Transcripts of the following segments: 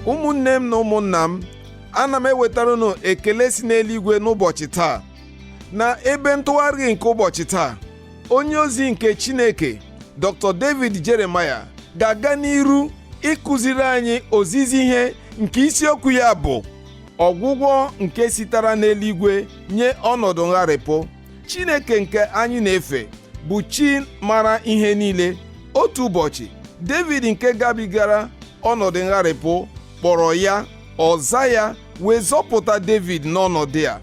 ụmụnne m na ụmụnna m ana m ewetara unu ekele si n'eluigwe n'ụbọchị taa na ebe ntụgharị nke ụbọchị taa onye ozi nke chineke dr david jeremiah ga-aga n'iru ịkụziri anyị ozizi ihe nke isiokwu ya bụ ọgwụgwọ nke sitara n'eluigwe nye ọnọdụ ngharịpụ Chineke nke anyị na-efe bụ chi mara ihe niile otu ụbọchị David nke gabigara ọnọdụ ngharịpụ kpọrọ ya ọ za ya wee zọpụta David n'ọnọdụ a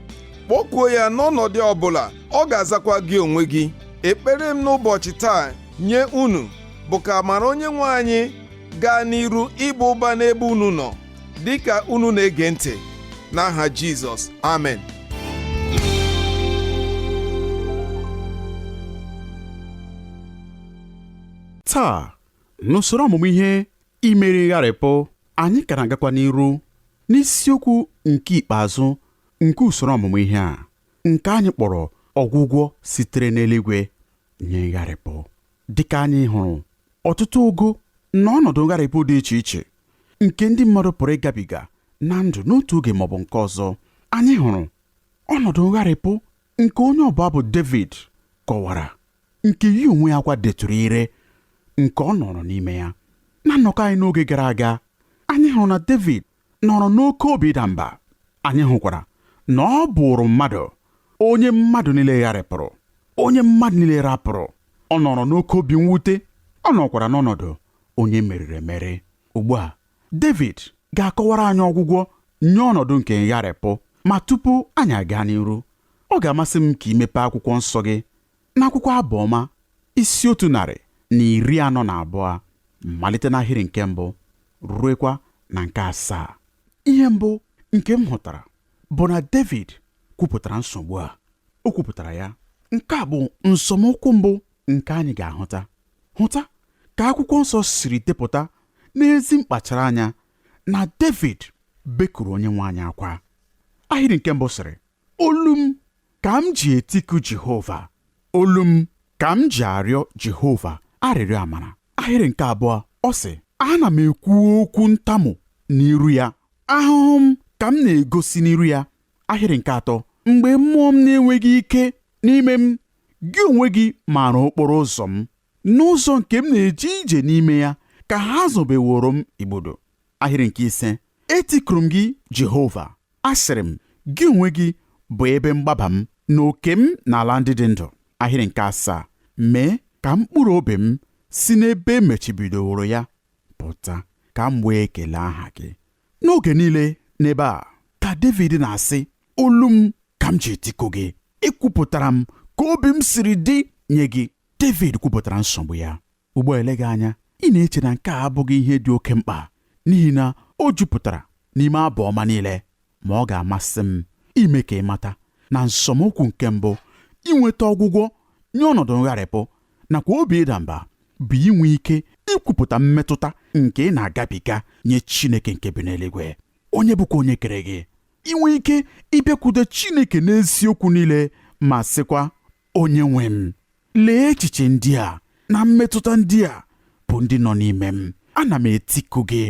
kpọkuo ya n'ọnọdụ ọbụla ọ ga-azakwa gị onwe gị ekpere m n'ụbọchị taa nye unu bụ ka amara onye nwe anyị gaa n'iru ịba ụba n'ebe unu nọ dịka unu na-ege ntị n'aha Jizọs amen taa n'usoro ọmụmụ ihe imeri ngharịpụ anyị ka na-agakwa n'iru n'isiokwu nke ikpeazụ nke usoro ọmụmụ ihe a nke anyị kpọrọ ọgwụgwọ sitere n'eluigwe nye ngharịpụ dịka anyị hụrụ ọtụtụ ogo na ọnọdụ ngharịpụ dị iche iche nke ndị mmadụ pụrụ ịgabiga na ndụ n'otu oge maọbụ nke ọzọ anyị hụrụ ọnọdụ ngharịpụ nke onye ọbụ abụ David kọwara nke ya onwe ya kwa detụrụ ire nke ọ nọrọ n'ime ya na nnọkọ anyị n'oge gara aga anyị hụrụ na David nọrọ n'oke obi ịda mba anyị hụkwara na ọ bụụrụ mmadụ onye mmadụ niile gharịpụrụ onye mmadụ niile rapụrụ ọ nọrọ n'oke obi mwute ọ nọkwara n'ọnọdụ onye e meriri emeri. Ugbu a, Devid ga-akọwara anyị ọgwụgwọ nye ọnọdụ nke ngharịpụ. Ma tupu anyị agaa n'iru, ọ ga-amasị m ka i mepee akwụkwọ nsọ gị n'akwụkwọ Abụ Ọma isi otu narị na iri anọ na abụọ malite n'ahịrị nke mbụ ruekwa na nke asaa. Ihe mbụ nke m hụtara bụ na Devid kwupụtara nsogbu a. O kwupụtara ya. Nke a bụ nzọmụkwụ mbụ nke anyị ga-ahụta hụta ka akwụkwọ nsọ siri depụta n'ezi mkpachara anya na David bekuru onye nwe anyị akwa ahịrị nke mbụ sịrị olu m ka m ji etiku Jehova olu m ka m ji arịọ Jehova arịrịọ amara ahịrị nke abụọ ọ sị ana m ekwu okwu ntamu n'iru ya ahụhụ m ka m na-egosi n'iru ya ahịrị nke atọ mgbe mmụọ m na-enweghị ike n'ime m gị onwe gị maara okporo ụzọ m n'ụzọ nke m na-eje ije n'ime ya ka ha zobeworo m igbodo ahịrị nke ise etikuru m gị Jehova asịrị m gị onwe gị bụ ebe mgbaba m na oke m n'ala ndị dị ndụ ahịrị nke asaa mee ka mkpụrụ obi m si n'ebe emechibidoworo ya pụta ka m wee kelee aha gị n'oge niile n'ebe a ka Devid na-asị olu m ka m ji etiku gị ekwupụtara m ka obi m siri dị nye gị Devid kwupụtara nsogbu ya ugbu a eleghị anya ị na-eche na nke a abụghị ihe dị oke mkpa n'ihi na o jupụtara n'ime abụ ọma niile ma ọ ga-amasị m ime ka ị mata na nzọmụkwụ nke mbụ inweta ọgwụgwọ nye ọnọdụ ngharịpụ nakwa obi ịda mba bụ inwe ike ikwupụta mmetụta nke ị na-agabiga nye Chineke nke bi n'eluigwe onye bụkwa onye kere gị inwe ike ịbịakwute Chineke n'eziokwu niile ma sịkwa Onyenwe m lee echiche ndị a na mmetụta ndị a bụ ndị nọ n'ime m ana m etiku gị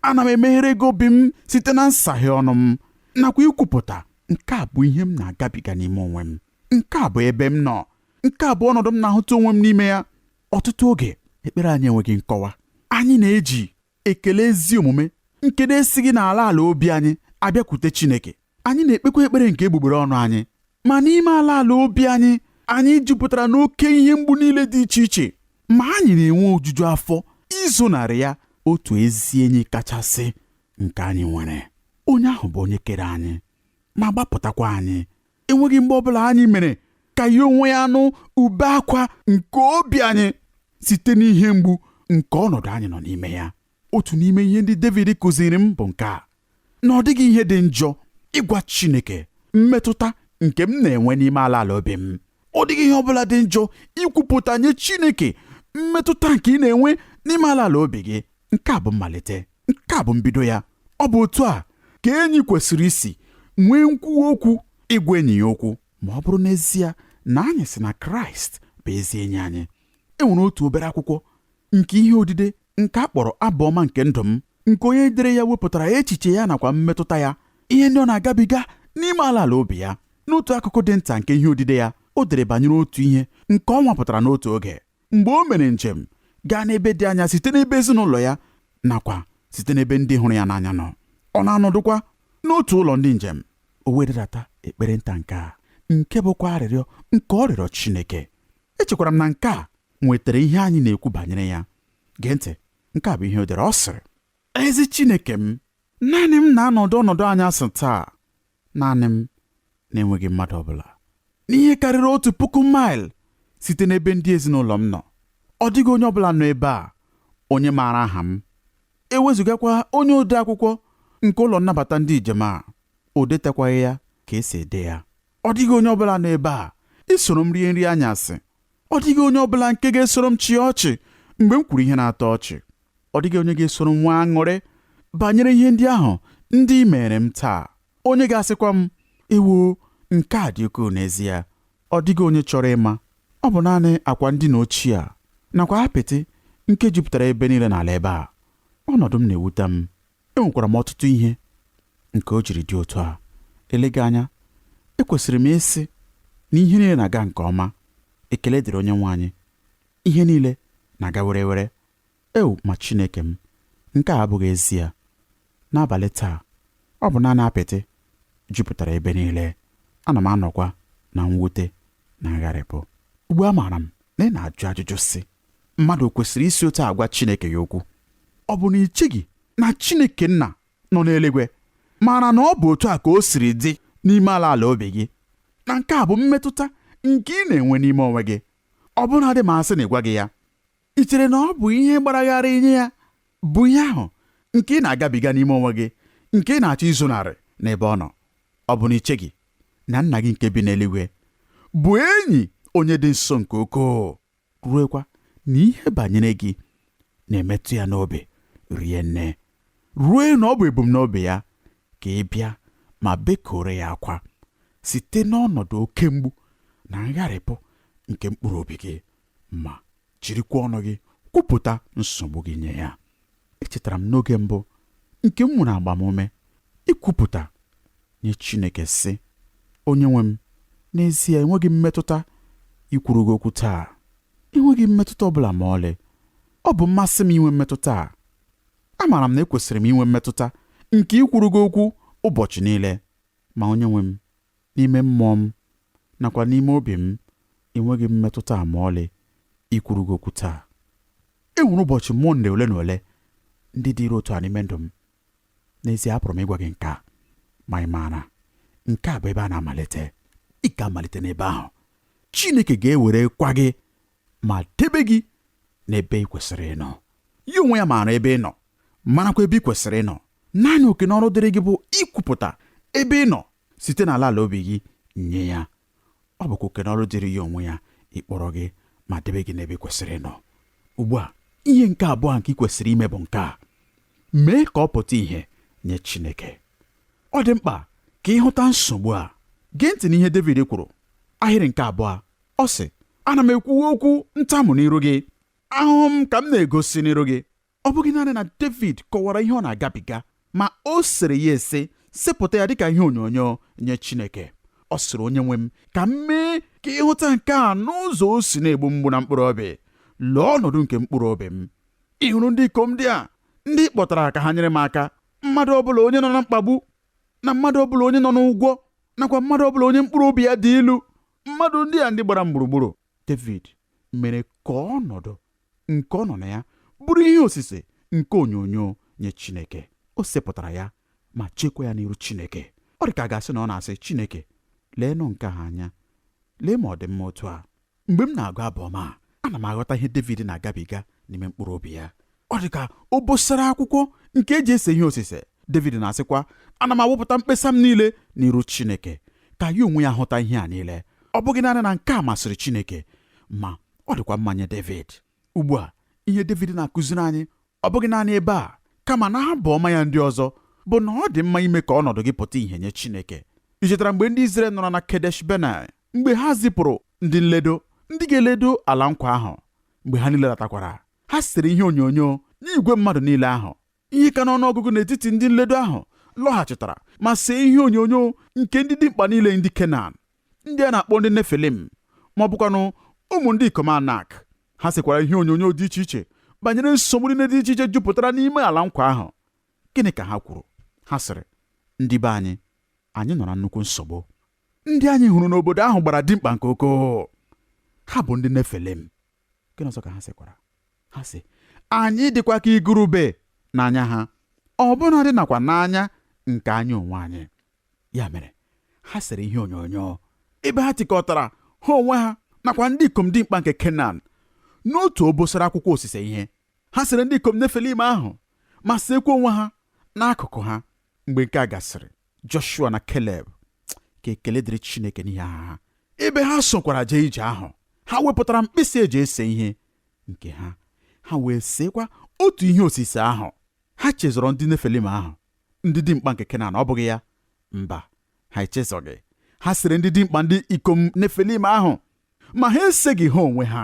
ana m emeghere gị obi m site na nsaghe ọnụ m nakwa ikwupụta nke a bụ ihe m na-agabiga n'ime onwe m nke a bụ ebe m nọ nke a bụ ọnọdụ m na-ahụta onwe m n'ime ya ọtụtụ oge ekpere anyị enweghị nkọwa anyị na-eji ekele ezi omume nke na-esighị n'ala ala obi anyị abịakwute Chineke anyị na-ekpekwa ekpere nke egbugbere ọnụ anyị ma n'ime ala ala obi anyị anyị jupụtara n'oke ihe mgbu niile dị iche iche ma anyị na-enwe ojuju afọ izonarị ya otu ezi enyi kachasị nke anyị nwere onye ahụ bụ onye kere anyị ma gbapụtakwa anyị enweghị mgbe ọbụla anyị mere ka ya onwe ya nụ ube akwa nke obi anyị site n'ihe mgbu nke ọnọdụ anyị nọ n'ime ya otu n'ime ihe ndị David kụziri m bụ nke a na ọ dịghị ihe dị njọ ịgwa Chineke mmetụta nke m na-enwe n'ime ala ala obi m ọ dịghị ihe ọbụla dị njọ ikwupụta nye Chineke mmetụta nke ị na-enwe n'ime ala ala obi gị nke a bụ mmalite nke a bụ mbido ya ọ bụ otu a ka enyi kwesịrị isi nwee nkwuwa okwu ịgwa enyi ya okwu ma ọ bụrụ n'ezie na anyị sị na Kraịst bụ ezi enyi anyị e nwere otu obere akwụkwọ nke ihe odide nke a kpọrọ abụ ọma nke ndụ m nke onye dere ya wepụtara echiche ya nakwa mmetụta ya ihe ndị ọ na-agabiga n'ime ala ala obi ya n'otu akụkụ dị nta nke ihe odide ya o dere banyere otu ihe nke ọ nwapụtara n'otu oge mgbe o mere njem gaa n'ebe dị anya site n'ebe ezinụlọ ya nakwa site n'ebe ndị hụrụ ya n'anya nọ ọ na-anọdụkwa n'otu ụlọ ndị njem o wee deta ekpere nta nke a nke bụkwa arịrịọ nke ọ rịọrọ Chineke echekwara m na nke a nwetara ihe anyị na-ekwu banyere ya gee ntị nke a bụ ihe o dere ọ sịrị ezi Chineke m naanị m na-anọdụ ọnọdụ anyasị taa naanị m na-enweghị mmadụ ọ bụla n'ihe karịrị otu puku maịl site n'ebe ndị ezinụlọ m nọ ọ dịghị onye ọ bụla nọ ebe a onye maara aha m ewezụgakwa onye ode akwụkwọ nke ụlọ nnabata ndị njem a o detakwaghị ya ka esi ede ya ọ dịghị onye ọ bụla nọ ebe a isoro m rie nri anyasị ọ dịghị onye ọ bụla nke ga-esoro m chịa ọchị mgbe m kwuru ihe na-atọ ọchị ọ dịghị onye ga-esoro m nwee aṅụrị banyere ihe ndị ahụ ndị mere m taa onye ga-asịkwa m ewoo nke a dị ukwuu n'ezie ọ dịghị onye chọrọ ịma ọ bụ naanị akwa ndina ochie a nakwa apịtị nke jupụtara ebe niile n'ala ebe a ọnọdụ m na-ewute m enwekwara m ọtụtụ ihe nke o jiri dị otu a eleghị anya ekwesịrị m ịsị na ihe niile na-aga nke ọma ekele dịrị onye nwe anyị ihe niile na-aga were were Ew, ma Chineke m, nke a abụghị ezie! N'abalị taa, ọ bụ naanị apịtị jupụtara ebe niile, ana m anọkwa na mwute na ngharịpụ. Ugbu a maara m na ị na-ajụ ajụjụ sị, Mmadụ o kwesịrị isi otu a gwa Chineke ya okwu? Ọ bụ na i cheghị na Chineke Nna nọ n'eluigwe maara na ọ bụ otu a ka o siri dị n'ime ala ala obi gị, na nke a bụ mmetụta nke ị na-enwe n'ime onwe gị, ọbụnadị ma a sị na ị gwaghị ya? i chere na ọ bụ ihe gbara gharịị nye ya bụ ihe ahụ nke ị na-agabiga n'ime onwe gị nke ị na-achọ izonarị n'ebe ọ nọ ọ bụ na i cheghị na nna gị nke bi n'eluigwe bụ enyi onye dị nso nke ukwuu ruekwa na ihe banyere gị na-emetụ ya n'obi rie nne ruo na ọ bụ ebumnobi ya ka ị bịa ma bekuoro ya akwa site n'ọnọdụ oke mgbu na ngharịpụ nke mkpụrụ obi gị ma jirikwa ọnụ gị kwupụta nsogbu gị nye ya echetara m n'oge mbụ nke m nwere agbamume ikwupụta nye Chineke sị onye nwe m n'ezie enweghị m mmetụta ikwuru gị okwu taa enweghị m mmetụta ọ bụla ma ọlị ọ bụ mmasị m inwe mmetụta a amaara m na ekwesịrị m inwe mmetụta nke ikwuru gị okwu ụbọchị niile ma onye nwe m N'ime mmụọ m nakwa n'ime obi m, enweghị m mmetụta a ma ọlị ikwuru gị okwu taa. E nwere ụbọchị Mọnde ole na ole ndị dịrị otu a n'ime ndụ m. N'ezie, apụrụ m ịgwa gị nke a, ma ị maara, nke a bụ ebe a na-amalite. Ị ga-amalite n'ebe ahụ. Chineke ga-ewerekwa gị ma debe gị n'ebe ị kwesịrị ịnọ. Ya onwe ya maara ebe ị nọ, marakwa ebe ị kwesịrị ịnọ. Naanị oke n'ọrụ dịrị gị bụ ikwupụta ebe ị nọ site n'ala ala obi gị nye ya ọ bụkwa oke n'ọrụ dịrị ya onwe ya ịkpọrọ gị ma debe gị n'ebe ị kwesịrị ịnọ ugbu a ihe nke abụọ nke ị kwesịrị ime bụ nke a mee ka ọ pụta ìhè nye Chineke ọ dị mkpa ka ị hụta nsogbu a gee ntị n'ihe David kwuru ahịrị nke abụọ ọ sị ana m ekwuwa okwu ntamu n'iru gị ahụhụ m ka m na-egosi n'iru gị ọ bụghị naanị na Devid kọwara ihe ọ na-agabiga ma o sere ya ese sepụta ya dịka ihe onyonyo nye Chineke ọ sịrị onye nwe m ka m mee ka ị hụta nke a n'ụzọ o si na-egbu mgbu na mkpụrụ obi lee ọnọdụ nke mkpụrụ obi m ị hụrụ ndị ikom ndị a ndị ị kpọtara ka ha nyere m aka mmadụ ọbụla onye nọ na mkpagbu na mmadụ ọbụla onye nọ n'ụgwọ nakwa mmadụ ọbụla onye mkpụrụ obi ya dị ilu mmadụ ndị a ndị gbara m gburugburu David mere ka ọnọdụ nke ọ nọ na ya bụrụ ihe osise nke onyonyo nye Chineke. O sepụtara ya ma cheekwa ya n'iru Chineke. Ọ dị ka a ga-asị na ọ na-asị, Chineke, leenụ nke a anya. Lee ma ọ dị mma otu a. Mgbe m na-agụ abụ ọma a, ana m aghọta ihe Devid na-agabiga n'ime mkpụrụ obi ya. Ọ dị ka obosara akwụkwọ nke e ji ese ihe osise. Devid na-asịkwa, Ana m awụpụta mkpesa m niile n'iru Chineke, ka ya onwe ya hụta ihe a niile. Ọ bụghị naanị na nke a masịrị Chineke, ma ọ dịkwa mma nye Devid ugbu a ihe Devid na-akụziri anyị ọ bụghị naanị ebe a kama n'abụ ọma ya ndị ọzọ bụ na ọ dị mma ime ka ọnọdụ gị pụta ìhè nye Chineke i chetara mgbe ndị Izrel nọrọ na Kedesh Benai mgbe ha zipụrụ ndị nledo ndị ga-eledo ala nkwa ahụ mgbe ha niile latakwara ha sere ihe onyonyo nye igwe mmadụ niile ahụ ihe ka n'ọnụ ọgụgụ n'etiti ndị nledo ahụ lọghachitara ma see ihe onyonyo nke ndị dimkpa niile ndị Kenan ndị a na-akpọ ndị Nefilim ma ọ bụkwanụ ụmụ ndị ikom Anak ha sekwara ihe onyonyo dị iche iche banyere nsogbu niile dị iche iche jupụtara n'ime ala nkwa ahụ gịnị ka ha kwuru ha sịrị ndị be anyị anyị nọ na nnukwu nsogbu ndị anyị hụrụ n'obodo ahụ gbara dimkpa nke ukwuu ha bụ ndị Nefilim gịnị ọzọ ka ha sịkwara ha sị anyị dịkwa ka igurube n'anya ha ọbụnadị nakwa n'anya nke anyị onwe anyị ya mere ha sere ihe onyonyo ebe ha tikọtara ha onwe ha nakwa ndị ikom dimkpa nke Kenan n'otu obosara akwụkwọ osise ihe ha sere ndị ikom Nefilim ahụ ma seekwa onwe ha n'akụkụ ha mgbe nke a gasịrị Joshua na Keleb ka ekele dịrị Chineke n'ihi aha ha ebe ha sokwara jee ije ahụ ha wepụtara mkpịsị e ji ese ihe nke ha ha wee seekwa otu ihe osise ahụ ha chezọrọ ndị Nefilim ahụ ndị dimkpa nke Kenan ọ bụghị ya mba ha echezọghị ha sere ndị dimkpa ndị ikom Nefilim ahụ ma ha eseghị ha onwe ha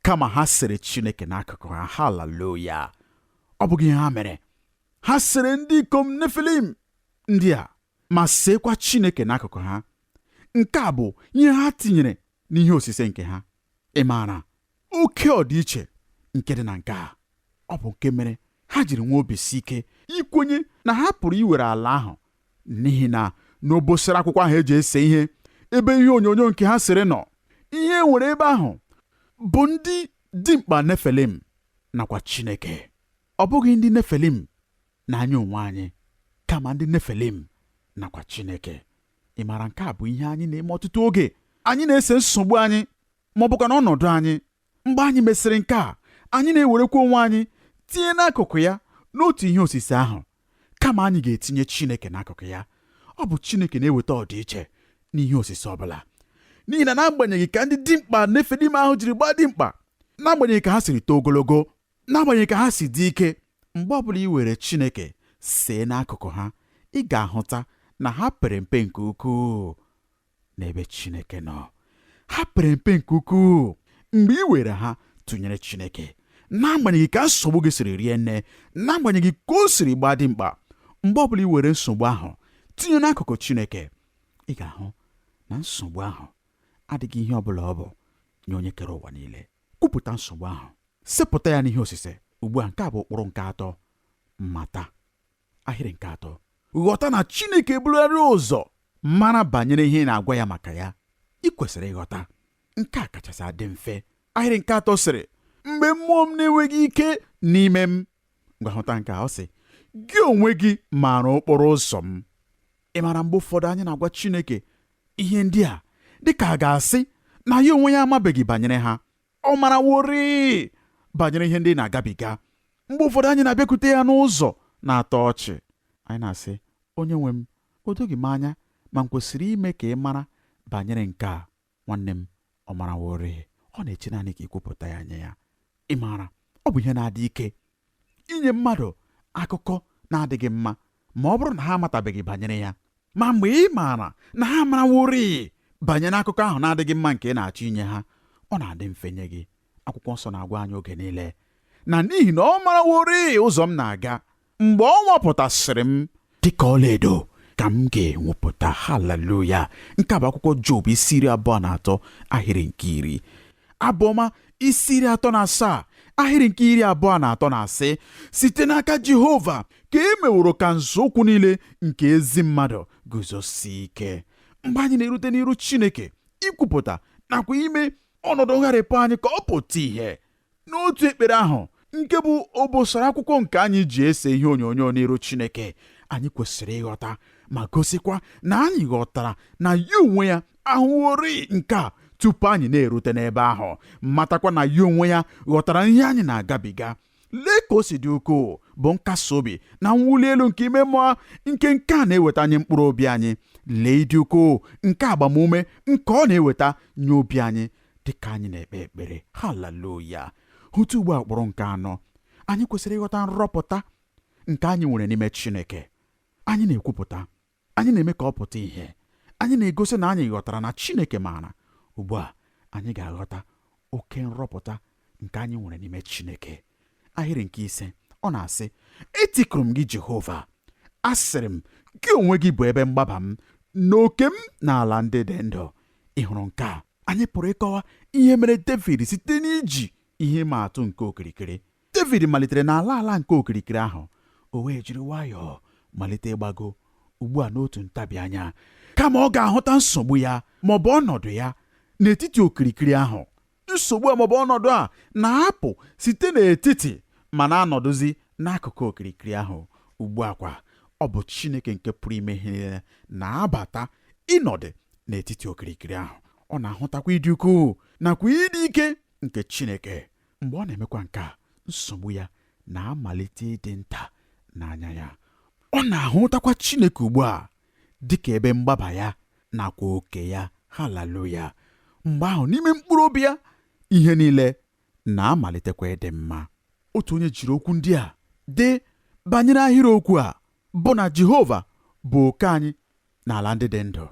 kama ha sere Chineke n'akụkụ ha haleluya ọ bụghị ihe ha mere ha sere ndị ikom Nefilim ndị a ma seekwa Chineke n'akụkụ ha nke a bụ ihe ha tinyere n'ihe osise nke ha ị maara oke ọdịiche nke dị na nke a ọ bụ nke mere ha jiri nwee obi si ike ikwenye na ha pụrụ iwere ala ahụ n'ihi na n'obosara akwụkwọ ahụ e ji ese ihe ebe ihe onyonyo nke ha sere nọ ihe e nwere ebe ahụ bụ ndị dimkpa nefilim nakwa chineke ọ bụghị ndị nefilim na anyị onwe anyị kama ndị nefilim nakwa chineke ị maara nke a bụ ihe anyị na-eme ọtụtụ oge anyị na-ese nsogbu anyị ma ọ bụkwanụ ọnọdụ anyị Mgbe anyị mesịrị nke a, anyị na-ewerekwa onwe anyị tinye n'akụkụ ya n'otu ihe osise ahụ, kama anyị ga-etinye Chineke n'akụkụ ya. Ọ bụ Chineke na-eweta ọdịiche n'ihe osise ọ bụla. N'ihi na n'agbanyeghị ka ndị dimkpa Nefilim ahụ jiri gbaa dimkpa, n'agbanyeghị ka ha siri too ogologo, n'agbanyeghị ka ha si dị ike, mgbe ọbụla i were Chineke see n'akụkụ ha, ị ga-ahụta na ha pere mpe nke ukwuu. n'ebe Chineke nọ ha pere mpe nke ukwuu mgbe i were ha tụnyere Chineke n'agbanyeghị ka nsogbu gị siri rie nne n'agbanyeghị ka o siri gbaa dimkpa mgbe ọbụla i were nsogbu ahụ tinye n'akụkụ Chineke ị ga-ahụ na nsogbu ahụ adịghị ihe ọbụla ọ bụ nye onye kere ụwa niile kwupụta nsogbu ahụ sepụta ya n'ihe osise ugbu a nke a bụ ụkpụrụ nke atọ mata ahịrị nke atọ ghọta na Chineke ebularị ụzọ mara banyere ihe ị na-agwa ya maka ya i kwesịrị ịghọta nke a kachasị adị mfe ahịrị nke atọ sịrị mgbe mmụọ m na-enweghị ike n'ime m ngwa hụta nke a ọ sị gị onwe gị maara okporo ụzọ m ị maara mgbe ụfọdụ anyị na-agwa Chineke ihe ndị a dịka a ga-asị na ya onwe ya amabeghị banyere ha ọ maraworịị banyere ihe ndị ị na-agabiga mgbe ụfọdụ anyị na-abịakwute ya n'ụzọ na-atọ ọchị anyị na-asị onye nwe m o doghị m anya ma m kwesịrị ime ka ị mara banyere nke a nwanne m ọ maraworịị ọ na-eche naanị ka i kwupụta ya nye ya ị maara ọ bụ ihe na-adị ike inye mmadụ akụkọ na-adịghị mma ma ọ bụrụ na ha amatabeghị banyere ya ma mgbe ị maara na ha amaraworị banyere akụkọ ahụ na-adịghị mma nke ị na-achọ inye ha ọ na-adị mfe nye gị akwụkwọ nsọ na-agwa anyị oge niile na n'ihi na ọ maraworị ụzọ m na-aga mgbe ọ nwapụtasịrị m dịka ọlaedo ka m ga-enwepụta haleluya nke a bụ akwụkwọ job isi iri abụọ na atọ ahịrị nke iri abụọma isi iri atọ na asaa ahịrị nke iri abụọ na atọ na-asị site n'aka jehova ka e meworo ka nzọụkwụ niile nke ezi mmadụ guzosie ike mgbe anyị na-erute n'iru chineke ikwupụta nakwa ime ọnọdụ ngharịpụ anyị ka ọ pụta ìhè N'otu ekpere ahụ, nke bụ obosara akwụkwọ nke anyị ji ese ihe onyonyo n'iru Chineke, anyị kwesịrị ịghọta ma gosikwa na anyị ghọtara na ya onwe ya ahụworị nke a tupu anyị na-erute n'ebe ahụ, matakwa na ya onwe ya ghọtara ihe anyị na-agabiga. Lee ka o si dị ukwuu bụ nkasi obi na mwuli elu nke ime mmụọ nke nke a na-eweta nye mkpụrụ obi anyị. Lee ịdị ukwuu nke agbamume nke ọ na-eweta nye obi anyị. dị ka anyị na-ekpe ekpere haleluya hụta ugbu a ụkpụrụ nke anọ anyị kwesịrị ịghọta nrọpụta nke anyị nwere n'ime chineke anyị na-ekwupụta anyị na-eme ka ọ pụta ìhè anyị na-egosi na anyị ghọtara na chineke maara ugbu a anyị ga-aghọta oke nrọpụta nke anyị nwere n'ime chineke ahịrị nke ise ọ na-asị etikuru m gị jehova asịrị m gị onwe gị bụ ebe mgbaba m na oke m n'ala ndị dị ndụ ị hụrụ nke a anyị pụrụ ịkọwa ihe mere Devid site n'iji ihe ịma atụ nke okirikiri Devid malitere n'ala ala nke okirikiri ahụ o wee jiri nwayọọ malite ịgbago ugbu a n'otu ntabi anya kama ọ ga-ahụta nsogbu ya ma ọ bụ ọnọdụ ya n'etiti okirikiri ahụ nsogbu a ma ọ bụ ọnọdụ a na-apụ site n'etiti ma na-anọdụzi n'akụkụ okirikiri ahụ ugbu a kwa ọ bụ Chineke nke pụrụ ime ihe niile na-abata ịnọdụ n'etiti okirikiri ahụ ọ na-ahụtakwa ịdị ukwuu nakwa ịdị ike nke Chineke mgbe ọ na-emekwa nke a nsogbu ya na-amalite ịdị nta n'anya ya ọ na-ahụtakwa Chineke ugbu a dị ka ebe mgbaba ya nakwa oke ya haleluya mgbe ahụ n'ime mkpụrụ obi ya ihe niile na-amalitekwa ịdị mma otu onye jiri okwu ndị a dee banyere ahịrịokwu a bụ na Jehova bụ oke anyị n'ala ndị dị ndụ.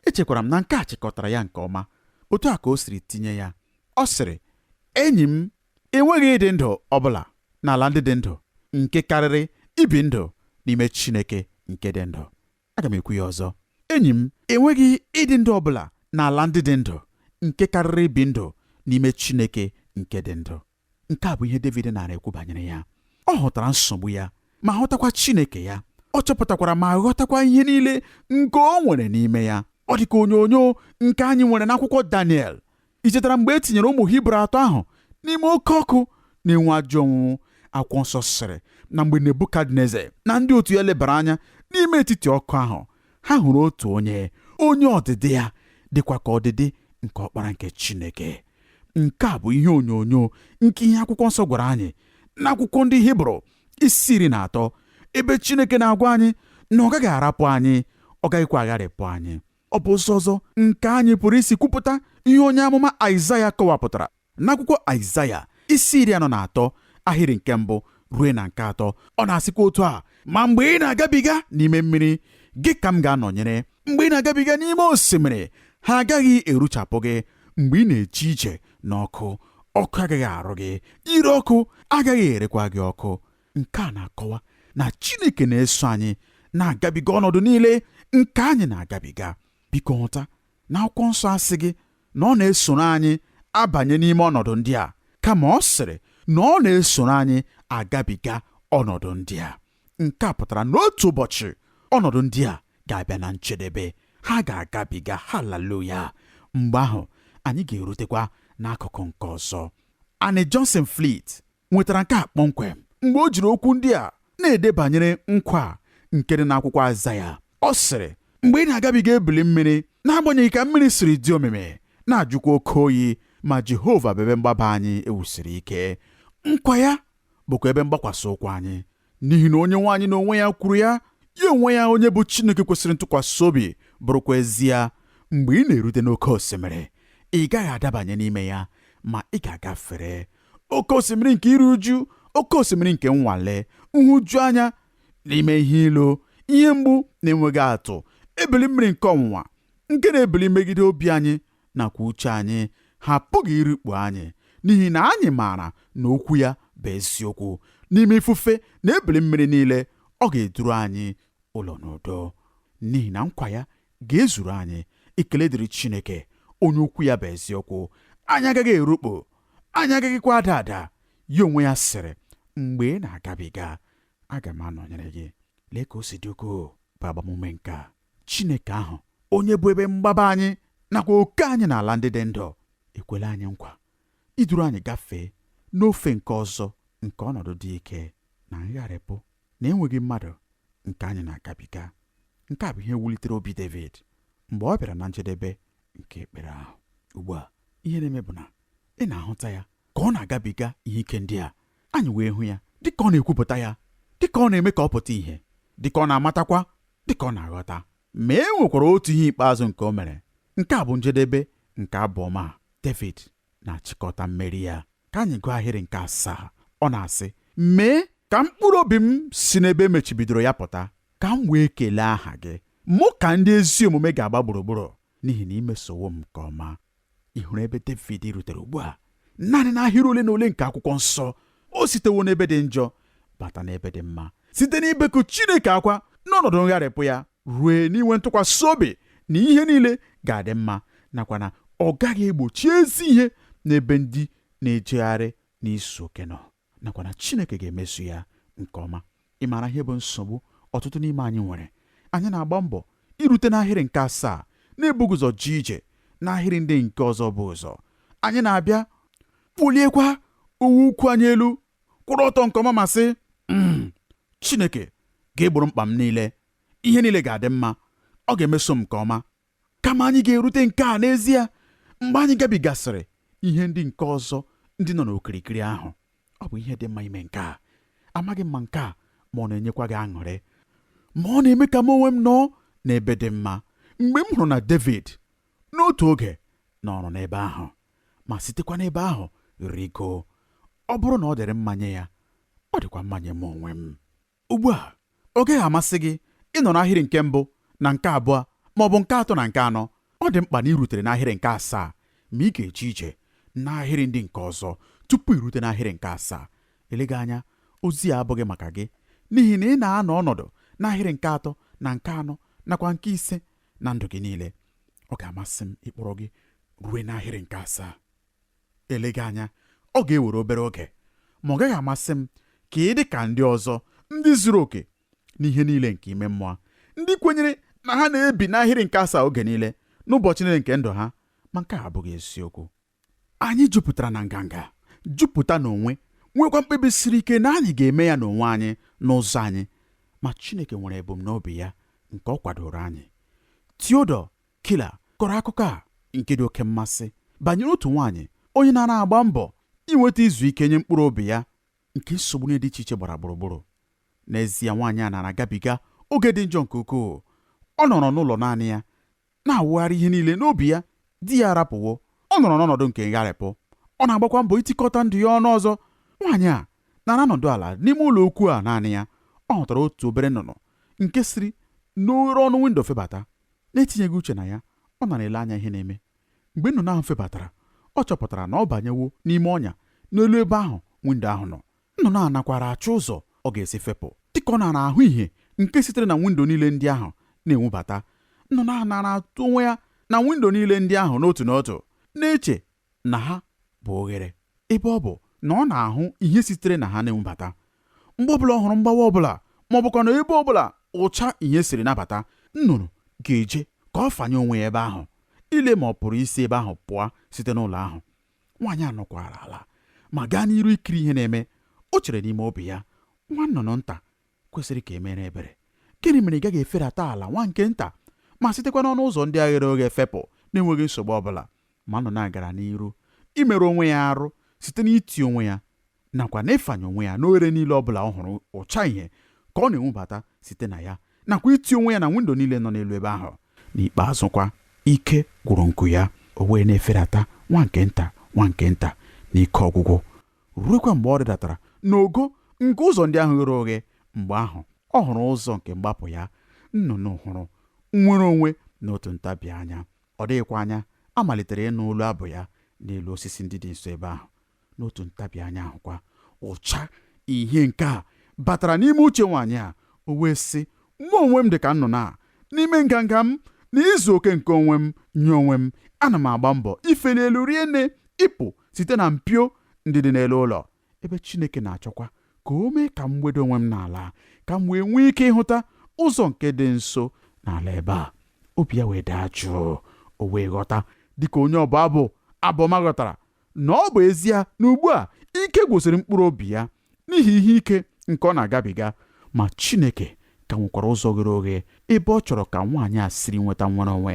Echekwara m na nke a chịkọtara ya nke ọma otu a ka o siri tinye ya. Ọ sịrị, Enyi m, e nweghị ịdị ndụ ọ bụla n'ala ndị dị ndụ nke karịrị ibi ndụ n'ime Chineke nke dị ndụ. Aga m ekwu ya ọzọ. Enyi m, e nweghị ịdị ndụ ọ bụla n'ala ndị dị ndụ nke karịrị ibi ndụ n'ime Chineke nke dị ndụ. nke a bụ ihe Devid nara ekwu banyere ya ọ hụtara nsogbu ya ma hụtakwa Chineke ya ọ chọpụtakwara ma ghọtakwa ihe niile nke o nwere n'ime ya ọ dị ka onyonyo nke anyị nwere n'akwụkwọ Daniel i chetara mgbe e tinyere ụmụ Hibru atọ ahụ n'ime oke ọkụ na-enwu ajọ onwunwu akwụkwọ nsọ sịrị na mgbe Nebukadneza na ndị otu ya lebara anya n'ime etiti ọkụ ahụ ha hụrụ otu onye onye ọdịdị ya dịkwa ka ọdịdị nke ọkpara nke Chineke Nke a bụ ihe onyonyo nke ihe akwụkwọ nsọ gwara anyị n'akwụkwọ ndị Hibru isi iri na atọ ebe Chineke na-agwa anyị na ọ gaghị arapụ anyị ọ gaghịkwa agharịpụ anyị ọ bụ ụzọ ọzọ nke anyị pụrụ isi kwupụta ihe onye amụma Aịzaya kọwapụtara n'akwụkwọ Aịzaya isi iri anọ na atọ ahịrị nke mbụ ruo na nke atọ ọ na-asịkwa otu a ma mgbe ị na-agabiga n'ime mmiri gị ka m ga-anọnyere mgbe ị na-agabiga n'ime osimiri ha agaghị eruchapụ gị mgbe ị na-eje ije n'ọkụ ọkụ agaghị arụ gị ire ọkụ agaghị erekwa gị ọkụ nke a na-akọwa na Chineke na-eso anyị na-agabiga ọnọdụ niile nke anyị na-agabiga biko ghọta na akwụkwọ nsọ asịghị na ọ na-esoro anyị abanye n'ime ọnọdụ ndị a kama ọ sịrị na ọ na-esoro anyị agabiga ọnọdụ ndị a nke a pụtara na otu ụbọchị ọnọdụ ndị a ga-abịa na njedebe ha ga-agabiga haleluya mgbe ahụ anyị ga-erutekwa n'akụkụ nke ọzọ Annie Johnson Flint nwetara nke a kpọmkwem mgbe o jiri okwu ndị a na-ede banyere nkwa nke dị n'akwụkwọ Aịzaya ọ sịrị mgbe ị na-agabiga ebili mmiri n'agbanyeghị ka mmiri siri dị omimi na-ajụkwa oke oyi ma Jehova bụ ebe mgbaba anyị e wusiri ike nkwa ya bụkwa ebe mgbakwasị ụkwụ anyị n'ihi na onye nwe anyị n'onwe ya kwuru ya ya onwe ya onye bụ Chineke kwesịrị ntụkwasị obi bụrụkwa ezie mgbe ị na-erute n'oke osimiri ị gaghị adabanye n'ime ya ma ị ga-agafere oke osimiri nke iru uju oke osimiri nke nnwale nhụju anya n'ime ihe ilu ihe mgbu na-enweghị atụ ebili mmiri nke ọnwụnwa nke na-ebili megide obi anyị nakwa uche anyị ha apụghị irikpu anyị n'ihi na anyị maara na okwu ya bụ eziokwu n'ime ifufe na ebili mmiri niile ọ ga-eduru anyị ụlọ n'udo n'ihi na nkwa ya ga-ezuru anyị ekele dịrị Chineke onye okwu ya bụ eziokwu anyị agaghị erukpu anyị agaghịkwa ada ada ya onwe ya sịrị mgbe ị na-agabiga aga m anọnyere gị lee ka o si dị ukwuu bụ agbamume nke a Chineke ahụ, onye bụ ebe mgbaba anyị nakwa oke anyị n'ala ndị dị ndụ, ekwela anyị nkwa iduru anyị gafee n'ofe nke ọzọ nke ọnọdụ dị ike na ngharịpụ na enweghị mmadụ nke anyị na-agabiga. Nke a bụ ihe wulitere obi Devid mgbe ọ bịara na njedebe nke ekpere ahụ. Ugbu a, ihe na-eme bụ na ị na-ahụta ya ka ọ na-agabiga ihe ike ndị a, anyị wee hụ ya dịka ọ na-ekwupụta ya, dịka ọ na-eme ka ọ pụta ihe, dịka ọ na-amatakwa dị ka ọ na-aghọta. Ma e nwekwara otu ihe ikpeazụ nke o mere. Nke a bụ njedebe nke abụ ọma a. Devid na-achịkọta mmeri ya. Ka anyị gụọ ahịrị nke asaa. Ọ na-asị, Mee ka mkpụrụ obi m si n'ebe e mechibidoro ya pụta, ka m wee kelee aha gị. Mụ ka ndị ezi omume ga-agba gburugburu, n'ihi na i mesowo m nke ọma. ị hụrụ ebe Devid rutere ugbu a naanị n'ahịrị ole na ole nke akwụkwọ nsọ o sitewo n'ebe dị njọ bata n'ebe dị mma site n'ibeku Chineke akwa n'ọnọdụ ngharịpụ ya rue n'inwe ntụkwasị obi na ihe niile ga-adị mma nakwa na ọ gaghị egbochi ezi ihe n'ebe ndị na-ejegharị n'izu oke nọ nakwa na Chineke ga-emeso ya nke ọma ị maara ihe bụ nsogbu ọtụtụ n'ime anyị nwere anyị na-agba mbọ irute n'ahịrị nke asaa na-ebughị ụzọ jee ije n'ahịrị ndị nke ọzọ bu ụzọ anyị na-abịa kpuliekwa uwe ukwu anyị elu kwụrụ ọtọ nke ọma ma sị hmm, Chineke ga-egboro m mkpa m niile ihe niile ga-adị mma ọ ga-emeso m nke ọma kama anyị ga-erute nke a n'ezie mgbe anyị gabigasịrị ihe ndị nke ọzọ ndị nọ n'okirikiri ahụ ọ bụ ihe dị mma ime nke a amaghị m ma nke a ma ọ na-enyekwa gị aṅụrị ma ọ na-eme ka mụ onwe m nọọ n'ebe dị mma mgbe m hụrụ na Devid n'otu oge nọrọ n'ebe ahụ ma sitekwa n'ebe ahụ rigo ọ bụrụ na ọ dịrị mma nye ya ọ dịkwa mma nye mụ onwe m Ugbu a, ọ gaghị amasị gị ịnọ n'ahịrị nke mbụ na nke abụọ ma ọ bụ nke atọ na nke anọ. Ọ dị mkpa na i rutere n'ahịrị nke asaa, ma ị ga-eje ije n'ahịrị ndị nke ọzọ tupu i rute n'ahịrị nke asaa. Eleghị anya ozi a abụghị maka gị n'ihi na ị na-anọ ọnọdụ n'ahịrị nke atọ na nke anọ nakwa nke ise na ndụ gị niile. Ọ ga-amasị m ịkpọrọ gị rue n'ahịrị nke asaa. Eleghị anya, ọ ga-ewere obere oge, ma ọ gaghị amasị m ka ị dị ka ndị ọzọ, ndị zuru oke n'ihe niile nke ime mmụọ, ndị kwenyere na ha na-ebi n'ahịrị nke asaa oge niile n'ụbọchị niile nke ndụ ha, ma nke a abụghị eziokwu. Anyị jupụtara na nganga, jupụta n'onwe, nwekwa mkpebi siri ike na anyị ga-eme ya n'onwe anyị n'ụzọ anyị, ma Chineke nwere ebumnobi ya nke ọ kwadooro anyị. Theodore Keller kọrọ akụkọ a nke dị oke mmasị banyere otu nwaanyị onye naara agba mbọ inweta izu ike nye mkpụrụ obi ya nke nsogbu niile dị iche iche gbara gburugburu. N'ezie, nwaanyị a naara agabiga oge dị njọ nke ukwuu. Ọ nọrọ n'ụlọ naanị ya, na-awụgharị ihe niile n'obi ya. Di ya arapụwo, ọ nọrọ n'ọnọdụ nke ngharịpụ, ọ na-agbakwa mbọ itikọta ndụ ya ọnụ ọzọ. Nwaanyị a naara anọdụ ala n'ime ụlọ ukwu a naanị ya. Ọ hụtara otu obere nnụnụ nke siri n'oghere ọnụ windo febata. N'etinyeghị uche na ya, ọ naara ele anya ihe na-eme. Mgbe nnụnụ ahụ febatara, ọ chọpụtara na ọ banyewo n'ime ọnya n'elu ebe ahụ windo ahụ nọ. Nnụnụ a nakwaara achọ ụzọ ọ ga-esi fepụ. Dị ka ọ naara ahụ ihe nke sitere na windo niile ndị ahụ na-enwubata, nnụnụ a naara atụ onwe ya na windo niile ndị ahụ n'otu n'otu, na-eche na ha bụ oghere, ebe ọ bụ na ọ na-ahụ ihe sitere na ha na-enwubata. Mgbe ọbụla ọ hụrụ mgbawa ọbụla ma ọ bụkwanụ ebe ọbụla ụcha ihe siri na-abata, nnụnụ ga-eje ka ọ fanye onwe ya ebe ahụ, ile ma ọ pụrụ isi ebe ahụ pụọ site n'ụlọ ahụ. Nwaanyị a nọkwara ala ma gaa n'iru ikiri ihe na-eme. O chere n'ime obi ya, Nwa nnụnụ nta kwesịrị ka e mere ebere. Gịnị mere ị gaghị eferata ala nwa nke nta ma sitekwa n'ọnụ ụzọ ndị a ghere oghe fepụ na-enweghị nsogbu ọ bụla? Ma nnụnụ a gara n'iru imerụ onwe ya arụ site n'iti onwe ya nakwa n'ịfanye onwe ya n'oghere niile ọ bụla ọ hụrụ ụcha ihe ka ọ na-enwubata site na ya nakwa iti onwe ya na windo niile nọ n'elu ebe ahụ. N'ikpeazụkwa, ike gwụrụ nku ya, o wee na-eferata nwa nke nta nwa nke nta n'ike ọgwụgwụ. ruekwa mgbe ọ rịdatara n'ogo nke ụzọ ndị ahụ ghere oghe mgbe ahụ ọ hụrụ ụzọ nke mgbapụ ya nnụnụ hụrụ nnwere onwe n'otu ntabi anya ọ dịghịkwa anya a malitere ịnụ olu abụ ya n'elu osisi ndị dị nso ebe ahụ n'otu ntabi anya ahụkwa ụcha ihe nke a batara n'ime uche nwaanyị a o wee sị mụ onwe m dị ka nnụnụ a n'ime nganga m na izu oke nke onwe m nye onwe m ana m agba mbọ ifeli elu rie nne ịpụ site na mpio ndị dị n'elu ụlọ, ebe Chineke na-achọkwa ka o mee ka m weda onwe m n'ala, ka m wee nwee ike ịhụta ụzọ nke dị nso n'ala ebe a. Obi ya wee daa jụụ, o wee ghọta, dị ka onye ọbụ abụ abụ ọma ghọtara, na ọ bụ ezie na ugbu a ike gwụsịrị mkpụrụ obi ya, n'ihi ihe ike nke ọ na-agabiga ma Chineke ka nwekwara ụzọ ghere oghe ebe ọ chọrọ ka nwaanyị a siri nweta nnwere onwe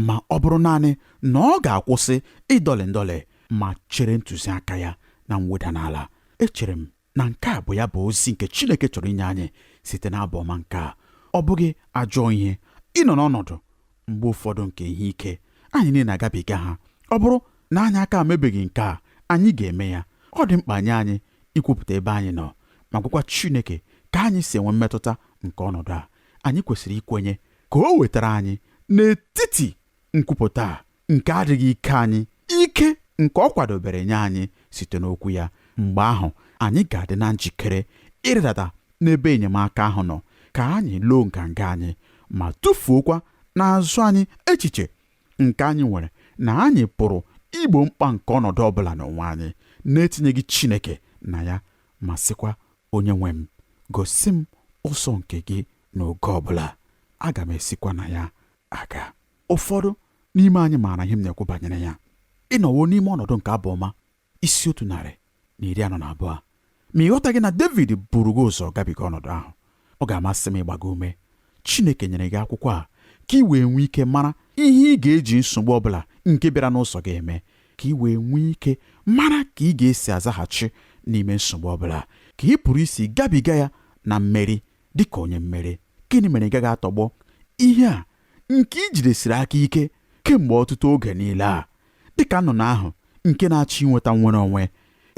ma ọ bụrụ naanị na ọ ga-akwụsị ịdọlị ndọlị ma chere ntụziaka ya na mweda n'ala echere m na nke a bụ ya bụ ozi nke Chineke chọrọ inye anyị site n'abụ ọma nke a ọ bụghị ajọ ihe ịnọ n'ọnọdụ mgbe ụfọdụ nke ihe ike anyị niile na-agabiga ha ọ bụrụ na anyị aka emebeghị nke a anyị ga-eme ya ọ dị mkpa nye anyị ikwupụta ebe anyị nọ ma gwakwa Chineke ka anyị si enwe mmetụta nke ọnọdụ a anyị kwesịrị ikwenye ka o wetara anyị n'etiti nkwupụta nke adịghị ike anyị ike nke ọ kwadobere nye anyị site n'okwu ya mgbe ahụ anyị ga-adị na njikere ịrịdata n'ebe enyemaka ahụ nọ ka anyị loo nganga anyị ma tụfuokwa n'azụ anyị echiche nke anyị nwere na anyị pụrụ igbo mkpa nke ọnọdụ ọ bụla n'onwe anyị na-etinyeghị Chineke na ya ma sịkwa onye nwe m gosi m ụzọ nke gị n'oge ọ bụla aga m esikwa na ya aga ụfọdụ n'ime anyị maara ihe m na-ekwu banyere ya ị nọwo n'ime ọnọdụ nke abụ ọma isi otu narị na iri anọ na abụọ ma ị ghọtaghị na David buru gị ụzọ gabiga ọnọdụ ahụ ọ ga-amasị m ịgba gị ume Chineke nyere gị akwụkwọ a ka ị wee nwee ike mara ihe ị ga-eji nsogbu ọ bụla nke bịara n'ụzọ gị eme ka ị wee nwee ike mara ka ị ga-esi azaghachi n'ime nsogbu ọ bụla ka ị pụrụ isi gabiga ya na mmeri dị ka onye mmeri gịnị mere ị gaghị atọgbọ ihe a nke i jidesiri aka ike kemgbe ọtụtụ oge niile a dị ka nnụnụ ahụ nke na-achọ inweta nnwere onwe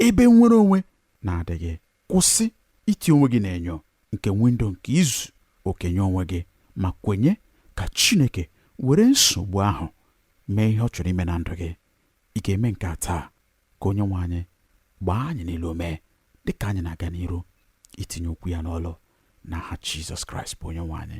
ebe nnwere onwe na-adịghị kwụsị iti onwe gị n'enyo nke windo nke izu oke nye onwe gị ma kwenye ka Chineke were nsogbu ahụ mee ihe ọ chọrọ ime na ndụ gị ị ga-eme nke a taa ka onye nwe anyị gbaa anyị niile ume dịka anyị na-aga n'iru itinye okwu ya n'ọlụ n'aha Jizọs Kraịst bụ onye nwe anyị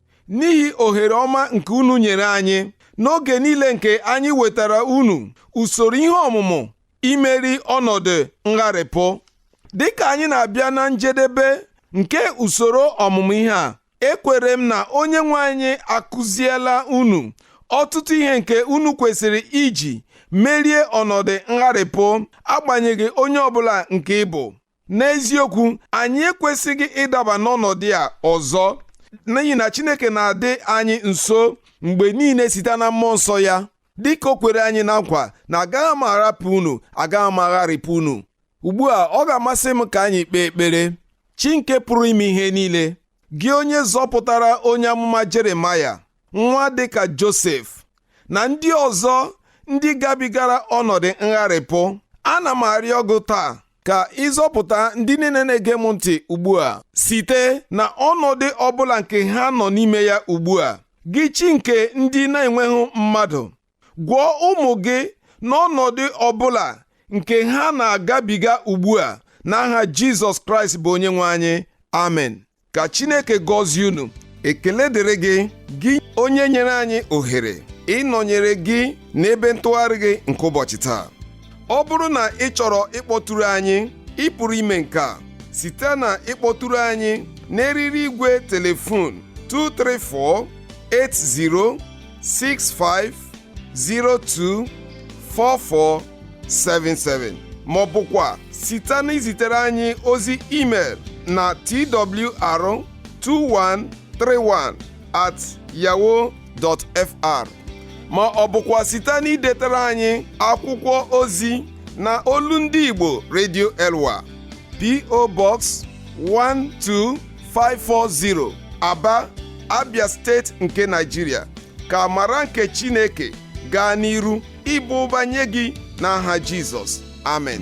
n'ihi ohere ọma nke unu nyere anyị n'oge niile nke anyị wetara unu usoro ihe ọmụmụ imeri ọnọdụ ngharịpụ dịka anyị na-abịa na njedebe nke usoro ọmụmụ ihe a ekwere m na onye nwe anyị akụziela unu ọtụtụ ihe nke unu kwesịrị iji merie ọnọdụ ngharịpụ agbanyeghị onye ọbụla nke ị bụ n'eziokwu anyị ekwesịghị ịdaba n'ọnọdụ a ọzọ n'ihi na Chineke na-adị anyị nso mgbe niile site na mmụọ nsọ ya dịka o kwere anyị na nkwa na agaghị m arapụ unu agaghị m agharịpụ unu ugbu a ọ ga-amasị m ka anyị kpee ekpere chi nke pụrụ ime ihe niile gị onye zọpụtara onye amụma Jeremaya nwa dịka Josef na ndị ọzọ ndị gabigara ọnọdụ ngharịpụ ana m arịọ gị taa ka ị zọpụta ndị niile na-ege m ntị ugbu a site na ọnọdụ ọbụla nke ha nọ n'ime ya ugbu a gị chi nke ndị na-enweghị mmadụ gwọọ ụmụ gị n'ọnọdụ ọbụla nke ha na-agabiga ugbu a n'aha Jizọs Kraịst bụ onye nwe anyị amen ka chineke gọzie unu ekele dịrị gị gị onye nyere anyị ohere ịnọnyere gị n'ebe ntụgharị gị nke ụbọchị taa ọ bụrụ na ị chọrọ ịkpọtụrụ anyị ị pụrụ ime nke a site na ịkpọtụrụ anyị n'eriri igwe telefon 234 8065 024477 ma ọ bụkwa site na izitere anyị ozi email na twr2131 at yahoo.fr ma ọ bụkwa site na idetara anyị akwụkwọ ozi na olu ndị Igbo Radio Elwa PO Box 12 540 Aba Abia steeti nke Nigeria ka amara nke Chineke gaa n'iru ịbụ ụba nye gị n'aha Jizọs amen